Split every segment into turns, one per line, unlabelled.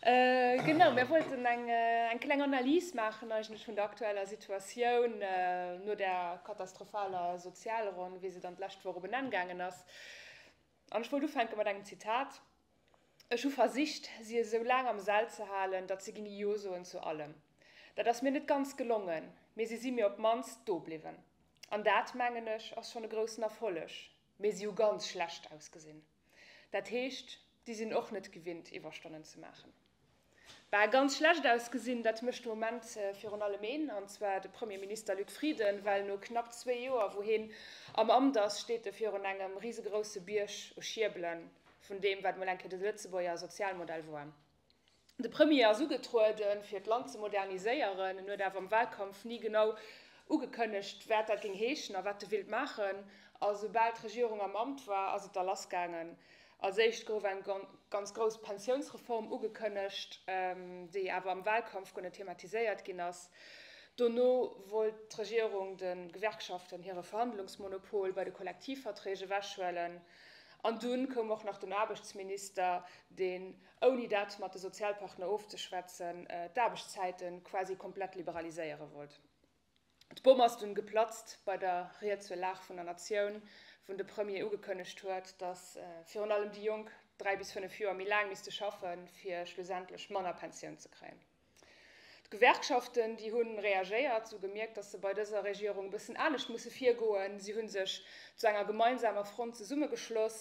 Genau, mir wollten eng kleng Analys maachen eigentlech vun der aktueller Situatioun no der katastrophaler Sozialronn, wéi se dann d'lescht Woch op en Enn gaangen ass. An ech wollt ufänke mat engem Zitat, Ech hu versicht, si esou laang am Sell ze halen, datt se ginn Jo soen zu allem. Dat ass mir net ganz gelongen, mee si si mir op d'mannst do bliwwen. An dat, mengen ech, ass schonn e groussen Erfolleg. Mee si hu ganz schlecht ausgesinn. Dat heescht, déi sinn och net gewinnt, Iwwerstonnen ze maachen. Bah, ganz schlecht ausgesinn, dat mécht de Moment virun allem een, an zwar de Premierminister Luc Frieden, well no knapp zwee Joer, wou heen am Amt ass, steet e virun engem risegrousse Bierg u Schierbelen vun deem, wat mol eng Kéier de Lëtzebuerger Sozialmodell war. De Premier ass ugetrueden, fir d'Land ze moderniséieren. En huet awer am Wahlkampf ni genau ugekënnegt, wat dat géing heeschen a wat e wéilt maachen. A soubal d'Regierung am Amt war, ass et da lassgaangen. Als éischt gouf eng ganz grouss Pensiounsreform ugekënnegt, déi awer am Wahlkampf guer net thematiséiert ginn ass. Dono wollt d'Regierung de Gewerkschaften hire Verhandlungsmonopol bei de Kollektivverträg ewechhuelen. An dunn koum och nach den Aarbechtsminister, deen. ouni dat mat de Sozialpartner ofzeschwätzen, d'Aarbechtszäiten quasi komplett liberaliséiere wollt. D'Bomm ass dunn geplatzt bei der Ried zur Lag vun der Natioun, wou de Premier ugekënnegt huet, dass virun allem déi Jonk dräi bis fënnef Joer méi laang misste schaffen, fir schlussendlech manner Pensioun ze kréien. D'Gewerkschaften, déi hu reagéiert, si hu gemierkt, datt se bei dëser Regierung e bëssen anescht musse virgoen. Si hu sech zu enger gemeinsamer Front zesummegeschloss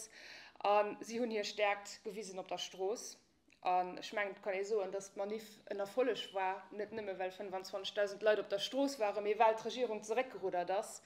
a si hunn hir Stäerkt gewisen op der Strooss. An ech mengen, et kann ee soen, datt d'Maniff en Erfolleg war, net nëmme well 25.000 Leit op der Strooss waren, mee well d'Regierung zeréckgeruddert ass,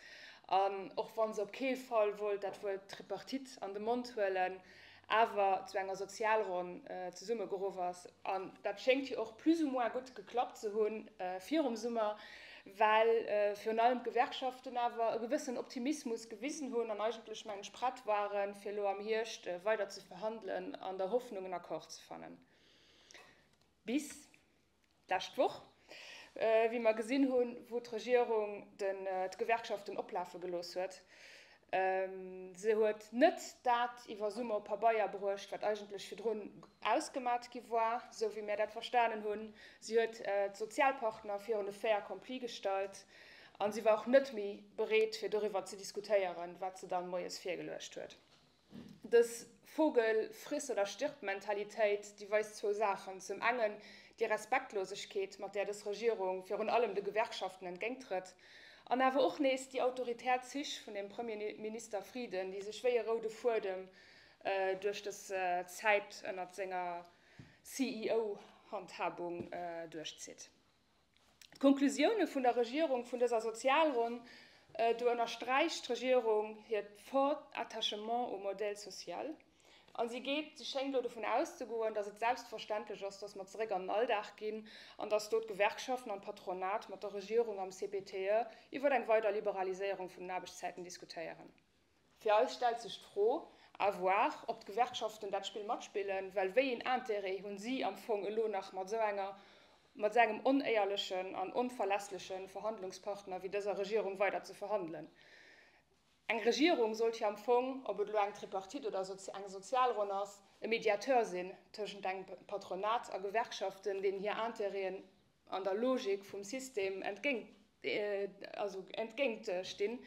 an och wa se op kee Fall wollt dat Wuert Tripartite an de Mond huelen. awer zu enger Sozialronn zesummegeruff ass, an dat schéngt jo och plus ou moins gutt geklappt ze hunn virum Summer, well virun allem d'Gewerkschaften awer e gewëssen Optimismus gewisen hunn an eigentlech, mengen ech, prett waren, fir elo am Hierscht weider ze verhandelen, an der Hoffnung en Accord ze fannen. Bis. D'lescht Woch, wéi mer gesinn hunn, wou d'Regierung d'Gewerkschaften oplafe gelooss huet, se huet net dat iwwer Summer op Pabeier bruecht, wat eigentlech virdrun ausgemat gi war, esou wéi mir dat verstanen hunn, si huet d'Sozialpartner virun e Fait accompli gestallt a si war och net méi bereet, fir doriwwer ze diskutéieren, wat se dann moies virgeluecht huet. Dës Vogel friss oder stirb Mentalitéit, déi weist zwou Saachen, Zum engen déi Respektlosegkeet, mat där dës Regierung virun allem de Gewerkschaften entgéinttrëtt, an awer och nees déi autoritär Zich vun dem Premierminister Frieden, déi sech wéi e roude Fuedem duerch dës Zäit ënnert senger CEO-Handhabung duerchzitt. D'Konklusioune vun der Regierung vun dëser Sozialronn, do ënnersträicht d'Regierung hiert fort Attachement au modèle social a si geet, si schéngt elo dovun auszegoen, datt et selbstverständlech ass, datt mer zeréck an den Alldag ginn an datt do d'Gewerkschaften an d'Patronat mat der Regierung am CPTE iwwer eng weider Liberaliséierung vun den Aarbechtszäiten diskutéieren. Fir eis stellt sech d'Fro, à voir, ob d'Gewerkschaften dat Spill matspillen, well wéi een Intérêt hunn si am Fong elo nach mat esou enger, mat esou engem onéierlechen an onverlässleche Verhandlungspartner wéi dëser Regierung weider ze verhandelen? Eng Regierung sollt jo am Fong, ob et elo eng Tripartite oder eng Sozialronn ass, e Mediateur sinn tëschent engem Patronat a Gewerkschaften, deenen hir Intérêten an der Logik vum System entgéint, also entgéint stinn.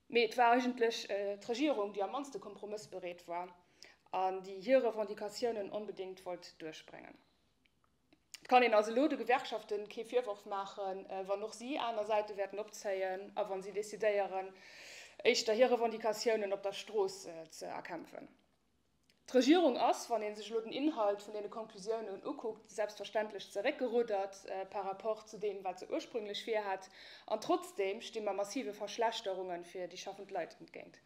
Mee et war eigentlech d'Regierung, déi am mannste kompromëssbereet war an déi hir Revendicatiounen onbedéngt wollt duerchbréngen. Et kann een also elo de Gewerkschafte kee Virworf maachen, wann och si aner Säite wäerten opzéien a wann si decidéieren, éischter hir Revendicatiounen op der Strooss ze erkämpfen. D'Regierung ass, wann ee sech elo den Inhalt vun deene Konklusiounen ukuckt, selbstverständlech zeréckgeruddert par rapport zu deem, wat se ursprünglech virhat. An trotzdem sti mer massive Verschlechterunge fir déi schaffend Leit entgéint.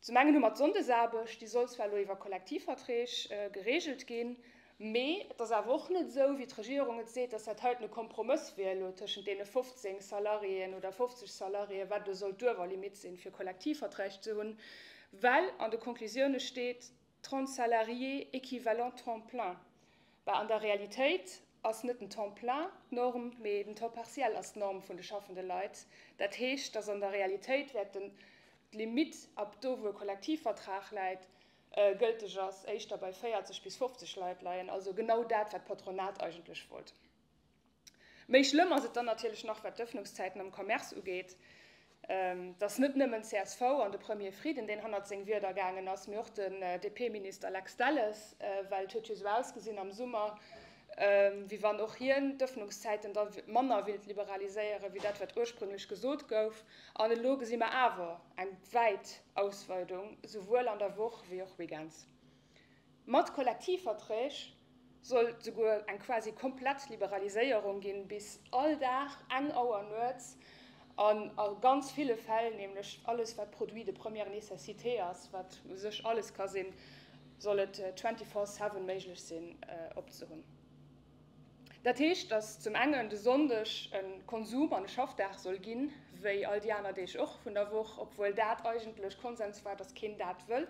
Zum engen hu mer d'Sonndesaarbecht, déi soll zwar elo iwwer Kollektivverträg geregelt ginn, Mee et ass awer och net esou, wéi d'Regierung et seet, dass dat heiten e Kompromëss wier elo tëschent deene 15 Salariéen oder 50 Salariéen, wat elo soll d'Uewerlimitt sinn, fir Kollektivverträg ze hunn, well an de Conclusioune steet 30 salariés équivalents temps plein. Bah, an der Realitéit ass net den Temps plein d'Norm, mee den Temps partiel ass d'Norm vun de schaffende Leit. Dat heescht, dass an der Realitéit wäert d'Limitt ab do, wou e Kollektivvertrag läit, gëlteg ass, éischter bei 40 bis 50 Leit leien, also genau dat, wat d'Patronat eigentlech wollt. Méi schlëmm ass et dann natierlech nach, wat d'Ëffnungszäiten am Commerce ugeet. Et ass net nëmmen csv an de Premier Frieden, deen hannert seng Wierder gaangen ass, mee och den DP-Minister Lex Delles, well et huet jo esou ausgesinn am Summer, wéi wann och hien d'Ëffnungszäiten da manner wéilt liberaliséieren, wéi dat, wat ursprünglech gesot gouf. An elo gesi mer awer, Eng wäit Ausweidung, souwuel an der Woch wéi och weekends. Mat Kollektivverträg soll et souguer eng quasi komplett Liberaliséierung ginn, bis all Dag eng Auer nuets, an a ganz ville Fäll nämlech alles, wat Produit de première nécessité ass, wat u sech alles ka sinn, soll et twenty-four-seven méiglech sinn, opzehunn. Dat heescht, datt zum engen de Sonndeg e Konsum an e Schaffdag soll ginn, wéi all déi aner Deeg och vun der Woch, obwuel dat eigentlech Konsens war, datt keen dat wëll.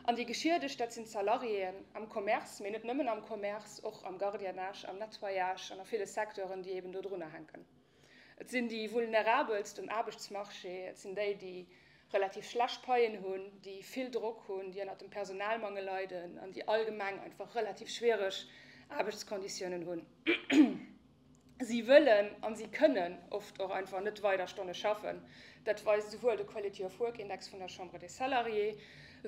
An déi Geschiedegt, dat sinn d'Salariéen am Commerce, mee net nëmmen am Commerce, och am Gardiennage, am Nettoyage an a ville Secteuren, déi eben dodrunner hänken. Et sinn déi Vulnerabelst um Aarbechtsmarché, et sinn déi, déi relativ schlecht Paien hunn, déi vill Drock hunn, déi ënnert dem Personalmangel leiden an déi allgemeng einfach relativ schwiereg Aarbechtsconditiounen hunn. Si wëllen an si kënnen oft och einfach net weider Stonne schaffen. Dat weist esouwuel de Quality of Work Index vun der Chambre des Salariés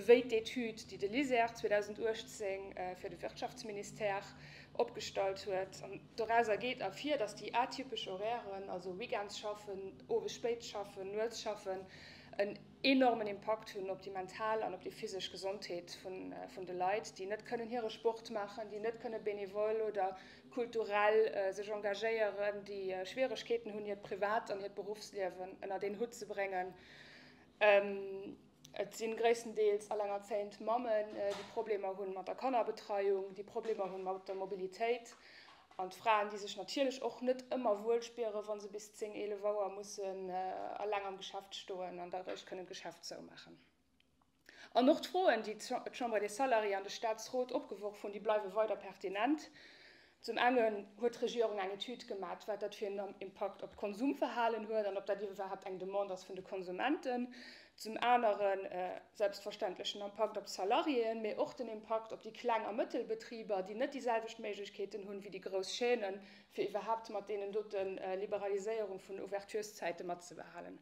wéi d'Etüd, déi de LISER 2018 fir de Wirtschaftsministère opgestallt huet. Dorauser geet ervir, datt déi atypesch Horairen, also weekends schaffen, owes spéit schaffen, nuets schaffen, en enormen Impakt hunn op déi mental an op déi physesch Gesondheet vun de Leit, déi net kënnen hire Sport maachen, déi net kënne benevole oder kulturell sech engagéieren, déi Schwieregkeeten hunn, hiert Privat an hiert Beruffsliewen ënnert een Hutt ze bréngen. Et si gréisstendeels elengerzéiend Mammen, déi Problemer hu mat der Kannerbetreiung, déi Problemer hu mat der Mobilitéit, an Fraen, déi sech natierlech och net ëmmer wuel spieren, wa se bis zéng, eelef Auer mussen eleng am Geschäft stoen an da eréischt kënnen d'Geschäft zoumaachen. An och d'Froen, déi d'Chambre des Salariés an de Staatsrot opgeworf hunn, déi bleiwe weider pertinent. Zum engen huet d'Regierung eng Etüd gemat, wat dat fir en Impakt op d'Konsumverhalen huet an ob dat iwwerhaapt eng Demande ass vun de Konsumenten. Zum anere selbstverständlech den Impakt op d'Salariéen, mee och den Impakt op déi kleng a mëttel Betriber, déi net déi selwecht Méiglechkeeten hunn, wéi déi grouss Chaînen, fir iwwerhaapt mat deenen dote Liberaliséierung vun Ouverturszäite matzebehalen.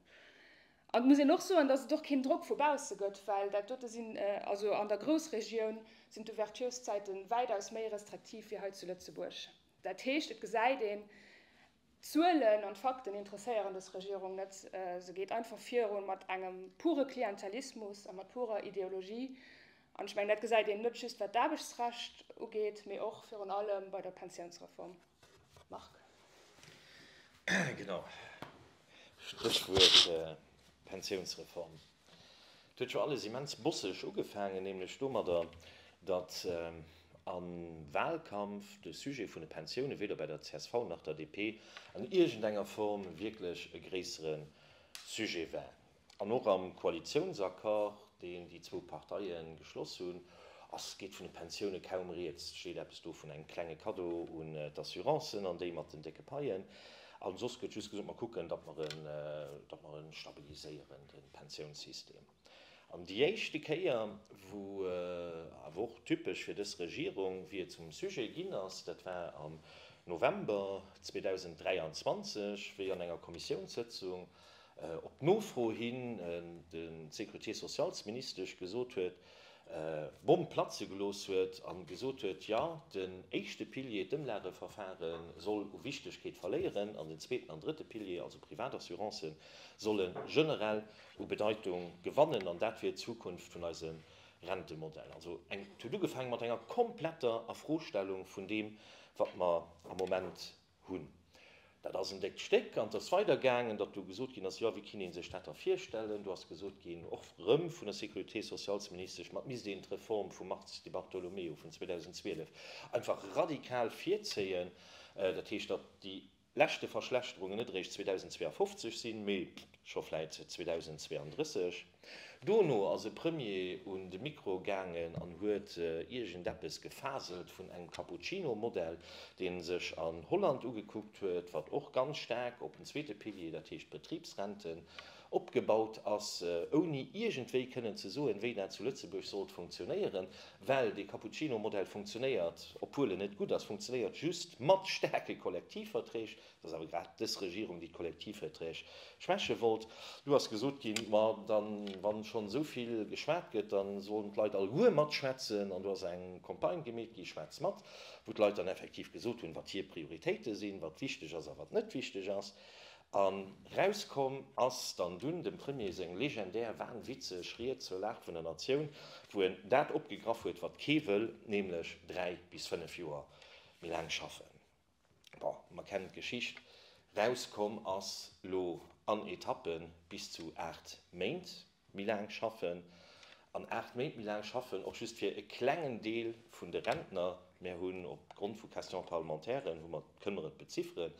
Et muss een och soen, datt et och keen Drock vu bausse gëtt, well dat dote sinn, also an der Groussregioun sinn d'Ouverturszäite wäitaus méi restriktiv wéi hei zu Lëtzebuerg. Dat heescht, et gesäit een, d'Zuelen an d'Fakten interesséieren dës Regierung net. Se geet einfach virun mat engem pure Klientelismus a mat purer Ideologie. An ech mengen, dat gesäit een net just wat d'Aarbechtsrecht ugeet, mee och virun allem bei der Pensiounsreform. Marc.
Genau. Stréchwuert Pensiounsreform. Et huet scho alles immens bosseg ugefaangen, nämlech domadder, datt am Wahlkampf de Sujet vun de Pensiounen weder bei der csv nach der DP an iergendenger Form wierklech e gréissere Sujet war. An och am Koalitiounsaccord, deen déi zwou Parteie geschloss hunn, ass, geet vun de Pensioune kaum rieds. Et steet eppes do vun engem klenge Kaddo un d'Assurancen an déi mat den décke Paien. A soss gëtt just gesot, mer kucken, datt mer en, datt mer e stabiliséieren, de Pensiounssystem. An déi éischte Kéier, wou awer och typesch fir dës Regierung, wéi et zum Sujet ginn ass, dat war am November 2023, wéi an enger Kommissiounssëtzung Op Nofro hin de Sécurité-socialsministesch gesot huet, d'Bomm platze gelooss huet a gesot huet, jo den éischte Pilier, d'Ëmlageverfare soll u Wichtegkeet verléieren an den zweeten an drëtte Pilier, also Privatassurance, solle generell u Bedeitung gewannen an dat wier d'Zukunft vun eisem Rentemodell. Also et huet ugefaange mat enger kompletter Afrostellung vun deem wat mer am Moment hunn. Dat ass en déckt Stéck. An et ass weidergaangen, datt do gesot ginn ass, jo, wéi kinne ee sech dat da virstellen. Do ass gesot ginn, och erëm vun der Sécurité-socialsministesch, ma et misst een d'Reform vum Mars Di Bartolomeo vun 2012 einfach radikal virzéien. Dat heescht, datt déi leschte Verschlechterungen net eréischt 2052 sinn, mee scho vläit 2032. Dono ass e Premier un de Mikro gaangen an huet iergendeppes gefaselt vun engem Cappuccino-Modell, dee sech an Holland ugekuckt huet, wat och ganz staark op den zweete Pilier, dat heescht d'Betribsrenten, opgebaut ass, ouni iergendwéi kënnen ze soen, wéi dat zu Lëtzebuerg sollt funktionéieren. Well dee Cappuccino-Modell funktionéiert, obwuel en net gutt ass, funktionéiert just mat staarke Kollektivverträg. Et ass awer grad dës Regierung, déi d'Kollektivverträg schwäche wollt. Elo ass gesot ginn, ma dann, wa schonn esou vill geschwat gëtt, da sollen d'Leit alleguer matschwätzen. An do ass eng Campagne gemeet gi, Schwätz mat, wou d'Leit dann effektiv gesot hunn, wat hir Prioritéite sinn, wat wichteg ass a wat net wichteg ass. A rauskomm ass dann dunn dem Premier seng legendär wahnwitzeg Ried zur Lag vun der Natioun, wou en dat opgegraff huet, wat kee wëll, nämlech dräi bis fënnef Joer méi laang schaffen. bon, mer kennen d'Geschicht, rauskomm ass, lo an Etappen, bis zu 8 Méint méi laang schaffen. An 8 Méint méi laang schaffen och just fir e klengen Deel vun de Rentner. Mer hunn op Grond vu Questions parlementairen, hu mer, kënne mer et bezifferen,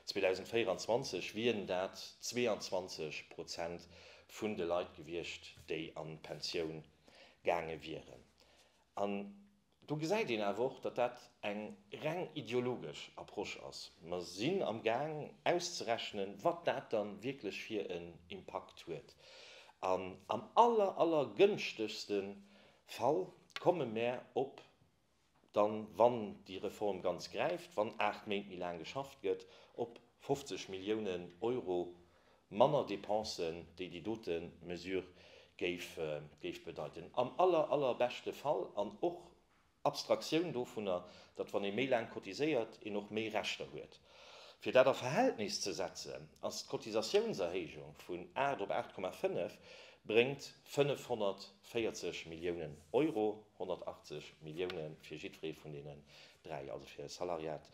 2024 wieren dat 22 Prozent vun de Leit gewiescht, déi an d'Pensioun gaange wieren. An Do gesäit een awer och, datt dat eng reng ideologesch Approche ass. Mer sinn am Gaang auszerechnen, wat dat da wierklech fir en Impakt huet. An am aller, aller gënschtegste Fall komme mär op, dann, wann déi Reform ganz gräift, wann aacht Méint méi laang geschafft gëtt, op 50 Milliounen Euro manner Dépensen, déi déi dote Mesure géif bedeiten. Am aller, allerbeschte Fall, an och Abstraktioun dovunner, datt, wann ee méi laang cotiséiert, een och méi Rechter huet. Fir dat a Verhältnis ze setzen, ass d'Cotisatiounserhéijung vun 8 op 8,5 bréngt 540 Milliounen Euro, 180 Millioune fir jiddweree vun deenen 3, also fir Salariat,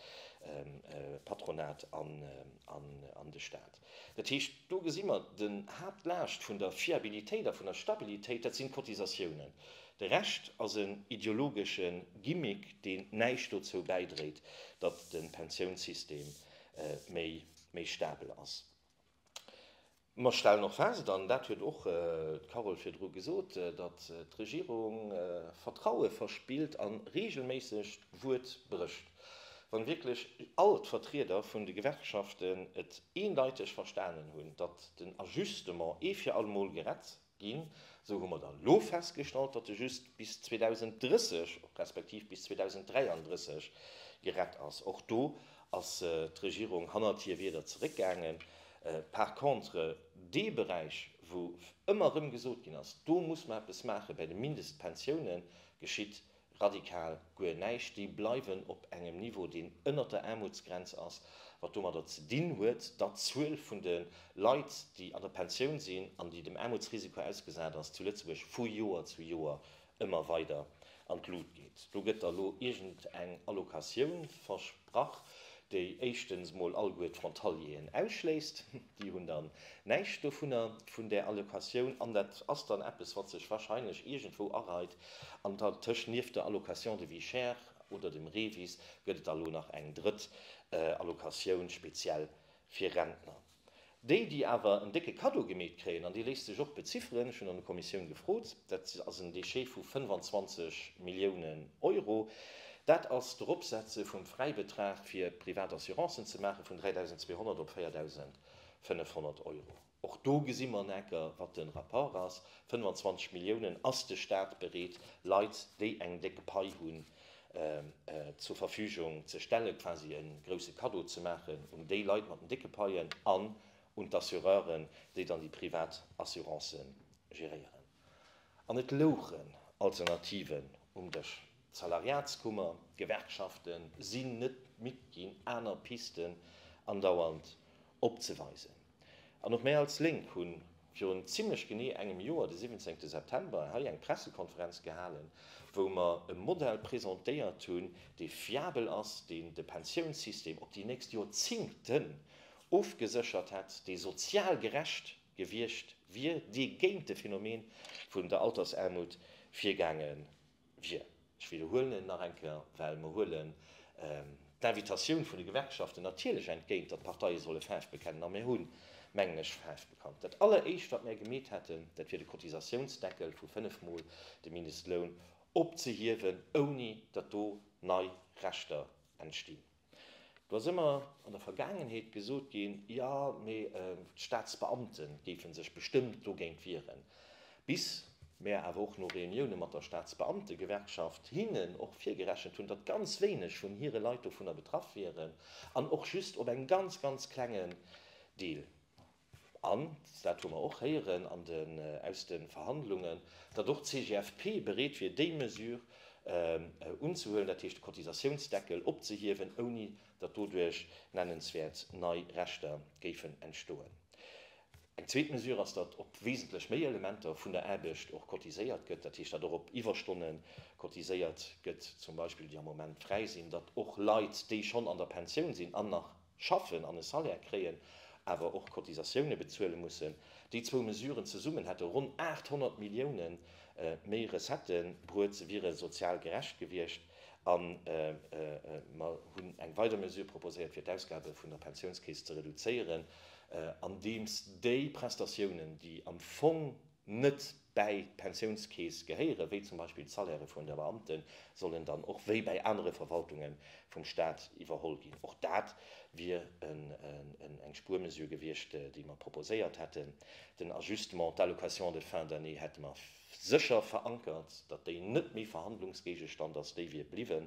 Patronat an de Staat. Dat heescht, do gesi mer den Haaptlaascht vun der Fiabilitéit a vun der Stabilitéit, dat sinn d'Cotisatiounen. De Rescht ass en ideologesche Gimmick, deen näischt dozou bäidréit, datt de Pensiounssystem méi stabel ass. Mer stellen och fest, an dat huet och d'Carole virdru gesot, datt d'Regierung Vertraue verspillt a reegelméisseg d'Wuert brécht. Wann wierklech all d'Vertrieder vun de Gewerkschaften et eendeiteg verstanen hunn, datt den Ajustement ee fir allemol gerett Ginn. Esou hu mer dann elo festgestallt, datt e just bis 2030 respektiv bis 2033 gerett ass. Och do ass d'Regierung hannert hir Wierder zeréckgaangen. Par contre, dee Beräich, wou ëmmer erëm gesot ginn ass, do muss mer eppes maachen, bäi de Mindestpensiounen geschitt Radikal guer näischt. Déi bleiwen op engem Niveau, deen ënnert der Aarmutsgrenz ass, wat domadder ze dinn huet, datt d'Zuel vun de Leit, déi an der Pensioun sinn an déi dem Aarmutsrisiko ausgesat ass, zu Lëtzebuerg vu Joer zu Joer ëmmer weider an d'Lut geet. Do gëtt da lo iergendeng Allocatioun versprach. Brach, déi éischtens mol alleguer d'Frontalieren ausschléisst, déi hunn dann näischt dovunner, vun där Allocatioun, an dat ass dann eppes, wat sech wahrscheinlech iergendwou areit. An dertëscht, nieft der Allocation de vie chère oder dem REVIS, gëtt et da lo nach eng drëtt Allocatioun speziell fir Rentner. Déi, déi awer en décke Kaddo gemeet kréien, an dee léisst sech och bezifferen, ech hunn an der Kommissioun gefrot, dat ass en Déchet vu 25 Milliounen Euro, dat ass d'Eropsetze vum Fräibetrag fir privat Assurancen ze maache vun 3.200 op 4.500 Euro. Och do gesi mer neker, wat de Rapport ass, 25 Milliounen ass de Stat bereet, Leit, déi eng déck Pai hunn, zur Verfügung ze stellen, quasi e grouse Kaddo ze maachen un déi Leit mat den décke Paien an un d'Assureuren, déi dann déi privat Assuranceë geréieren. An et louchen Alternativen um Dësch. D'Salariatskummer, d'Gewerkschaften sinn net midd ginn, aner Pisten andauernd opzeweisen. An och mir als Lénk hu virun zimlech genee engem Joer, de 17 September, hei eng Pressekonferenz gehalen, wou mer e Modell presentéiert hunn, dee fiabel ass, deen de Pensiounssystem op déi nächst Jorzingten ofgeséchert hätt, dee sozial gerecht gewiescht wier, dee géint de Phänomen vun der Altersaarmut virgaange wier. Ech widderhuelen et nach eng Kéier, well mer huelen d'Invitatioun vun de Gewerkschaften natierlech entgéint, datt d'Parteie solle Faarf bekennen. A mir hu, mengen ech, Faarf bekannt. Dat Alleréischt, wat mär gemeet hätten, dat wier de Cotisatiounsdeckel vu fënnf Mol de Mindestloun opzehiewen, ouni datt do nei Rechter entstinn. Do ass ëmmer an der Vergaangenheet gesot ginn, jo, mee d'Staatsbeamte géife sech bestëmmt dogéint wieren. Bis mär awer och no Reunioune mat der Staatsbeamtegewerkschaft hinnen och virgerechent hunn, datt ganz wéineg vun hire Leit dovunner betraff wieren an och just op engem ganz, ganz klengen Deel An, dat hu mer och héieren an den, aus de Verhandlungen, datt och d'CGFP bereet wier, déi Mesure unzehuelen, dat heescht de Cotisatiounsdeckel opzehiewen, ouni datt doduerch nennenswäert nei Rechter géifen entstoen. Eng zweet Mesure ass, datt op wesentlech méi Elementer vun der Aarbecht och cotiséiert gëtt, dat heescht, datt och op Iwwerstonne cotiséiert gëtt, zum Beispill, déi am Moment fräi sinn, datt och Leit, déi schonn an der Pensioun sinn an nach, schaffen an e Salaire kréien, awer och Cotisatioune bezuele mussen, déi zwou Mesuren zesummen hätte ronn 800 Millioune méi Recettë bruet, se wiere sozial gerecht gewiescht. A mer hunn eng weider Mesure proposéiert, fir d'Ausgabe vun der Pensiounskeess ze reduzéieren, andeems déi Prestatiounen, déi am Fong net bäi d'Pensiounskeess gehéieren, wéi zum Beispill d'Salairë vun de Beamten, sollen dann och wéi bäi anere Verwaltunge vum Staat iwwerholl ginn. Och dat wier eng Spuermesure gewiescht, déi mer proposéiert hätten. Den Ajustement d'allocation de fin d'année hätte mer sécher verankert, datt déi net méi Verhandlungsgéigestand ass, déi wier bliwwen.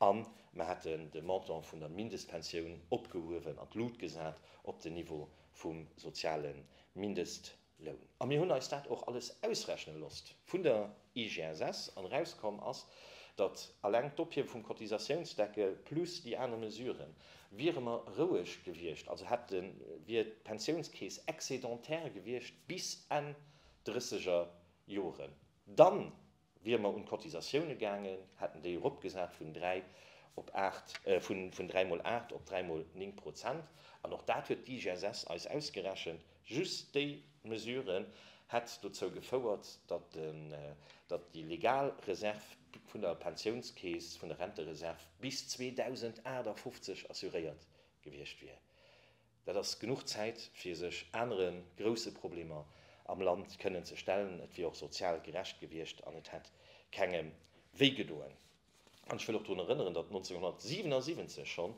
A mer hätten de Montant vun der Mindestpensioun opgehuewen an d'Lut gesat op den Niveau vum soziale Mindestloun. Loun. A mir hunn eis dat och alles ausrechne lost vun der IGSS an erauskomm ass, datt alleng d'Ophiewe vum Cotisatiounsdeckel plus déi aner Mesuren, wiere mer roueg gewiescht, also hätte wier d'Pensiounskeess excédentaire gewiescht bis Enn drësseger Joren, dann Wiere mer un d'Cotisatioune gaangen, hätten déi eropgesat vun dräi op aacht, vun dräi mol aacht op dräi mol néng Prozent. An och dat huet d'IGSS eis ausgerechent. Just déi Mesure hätt dozou gefouert, datt déi legal Reserv vun der Pensiounskeess, vun der Rentereserv bis 2058 assuréiert gewiescht wier. Dat ass genuch Zäit, fir sech anere grousse Problemer am Land kënnen ze stellen. Et wier och sozial gerecht gewiescht an et hätt kengem wéi gedoen. An ech wëll och drun erënneren, datt 1977 schonn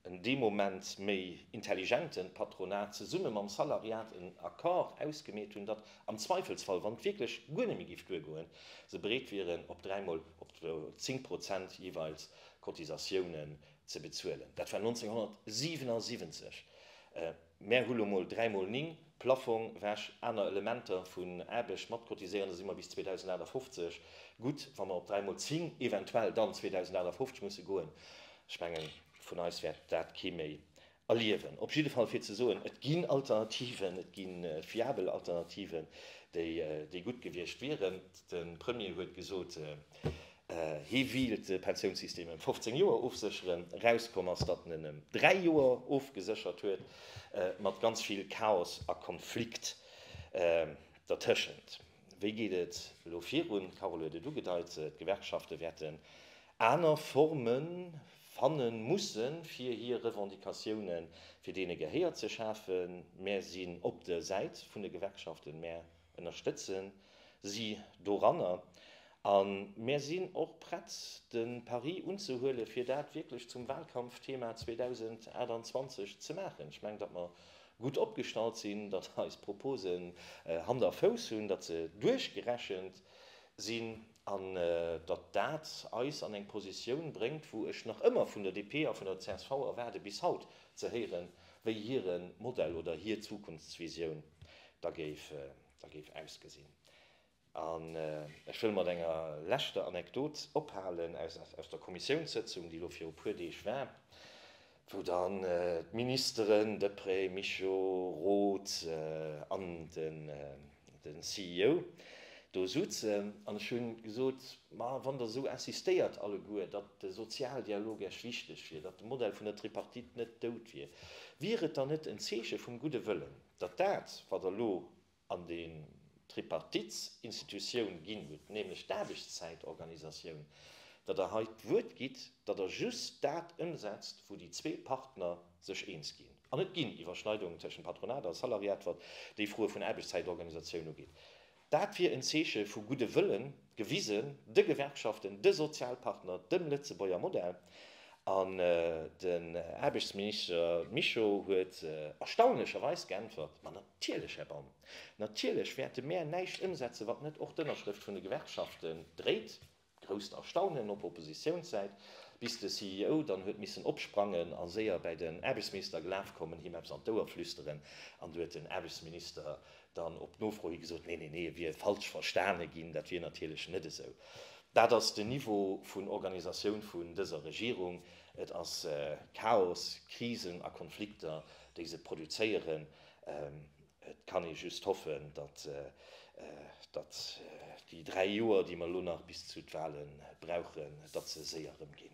en dee Moment méi intelligente Patronat zesumme mam Salariat en Accord ausgemeet hunn, datt am Zweifelsfall, wann et wierklech guer net méi géif duergoen, se bereet wieren, op dräimol op 10 Prozent jeeweils Cotisatiounen ze bezuelen. Dat war 1977. Mär hu lo mol dräi mol ning, Plaffong, Wäsch, aner Elementer vun Aarbecht matcotiséieren, da si mer bis 2058 gutt. Wa mer op dräi mol zing, eventuell dann 2058 musse goen, ech mengen, vun eis wäert dat kee méi Erliewen op jidde Fall fir ze soen, et ginn Alternativen, et gi fiabel Alternativen, déi gutt gewiescht wieren. De Premier huet gesot, hie wéilt de Pensiounssystem ëm 15 Joer ofsécheren. Erauskomm ass, datt en en ëm dräi Joer ofgeséchert huet, mat ganz vill Chaos a Konflikt dertëschent. Wéi geet et elo virun? D'Carole huet et ugedeit, D'Gewerkschafte wäerten aner Forme fanne mussen, fir hir Revendicatioune fir deene Gehéier ze schafen. Mär sinn op der Säit vun de Gewerkschaften, mär ënnerstëtze si doranner a mär sinn och prett, de Pari unzehuele fir dat wierklech zum Wahlkampfthema 2028 ze maachen. Ech mengen, datt mer gutt opgestallt sinn, datt eis Proposen Hand a Fouss hunn, datt se duerchgerechent sinn. an datt dat eis an eng Positioun bréngt, wou ech nach ëmmer vun der DP a vun der csv erwaarde bis haut ze héieren, wéi hire Modell oder hir Zukunftsvisioun da géif ausgesinn. An ech wëll mat enger leschter Anekdot ophalen aus der Kommissiounssëtzung, déi elo viru puer Deeg war. wou dann d'Ministeren Deprez, Mischo, Roth an den CEO do soutzen an ech hunn gesot, ma wann der esou insistéiert alleguer, datt de Sozialdialog Iech wichteg wier, datt de Modell vun der Tripartite net dout wier, wier et dann net en Zeeche vum gudde Wëllen, datt dat wat der elo an den Tripartitsinstitutioun ginn hutt, nämlech d'Aarbechtszäitorganisatioun, datt Der hei d'Wuert gitt, datt Der just dat ëmsetzt, wou déi zwee Partner sech eens ginn. An et ginn Iwwerschneidungen tëschent Patronat a Salariat, wat déi Froe vun Aarbechtszäitorganisatioun ugeet. Dat wier en Zeeche vu gudde Wëllen. Gewisen, de Gewerkschaften, de Sozialpartner, dem Lëtzebuerger Modell. An den Aarbechtsminister Mischo huet erstaunlecherweis geäntwert, Ma natierlech, Här Baum, natierlech wäerte mär näischt ëmsetzen, wat net och d'Ënnerschrëft vun de Gewerkschaften dréit. Grousst Erstaunen op Oppositiounssäit, bis de CEO dann huet missen opsprangen a séier bäi den Aarbechtsminister gelaf kommen, him eppes an d'Ouer flüsteren, an du huet den Aarbechtsminister Dann op Nofro hi gesot, Nee, nee, nee, et wier falsch verstane ginn. Dat wier natierlech net esou. Dat ass den Niveau vun Organisatioun vun dëser Regierung. Et ass Chaos, Krisen a Konflikter, déi se produzéieren. Et kann ee just hoffen, datt déi dräi Joer, déi mer elo nach bis zu de Wale brauchen, datt se séier erëmginn.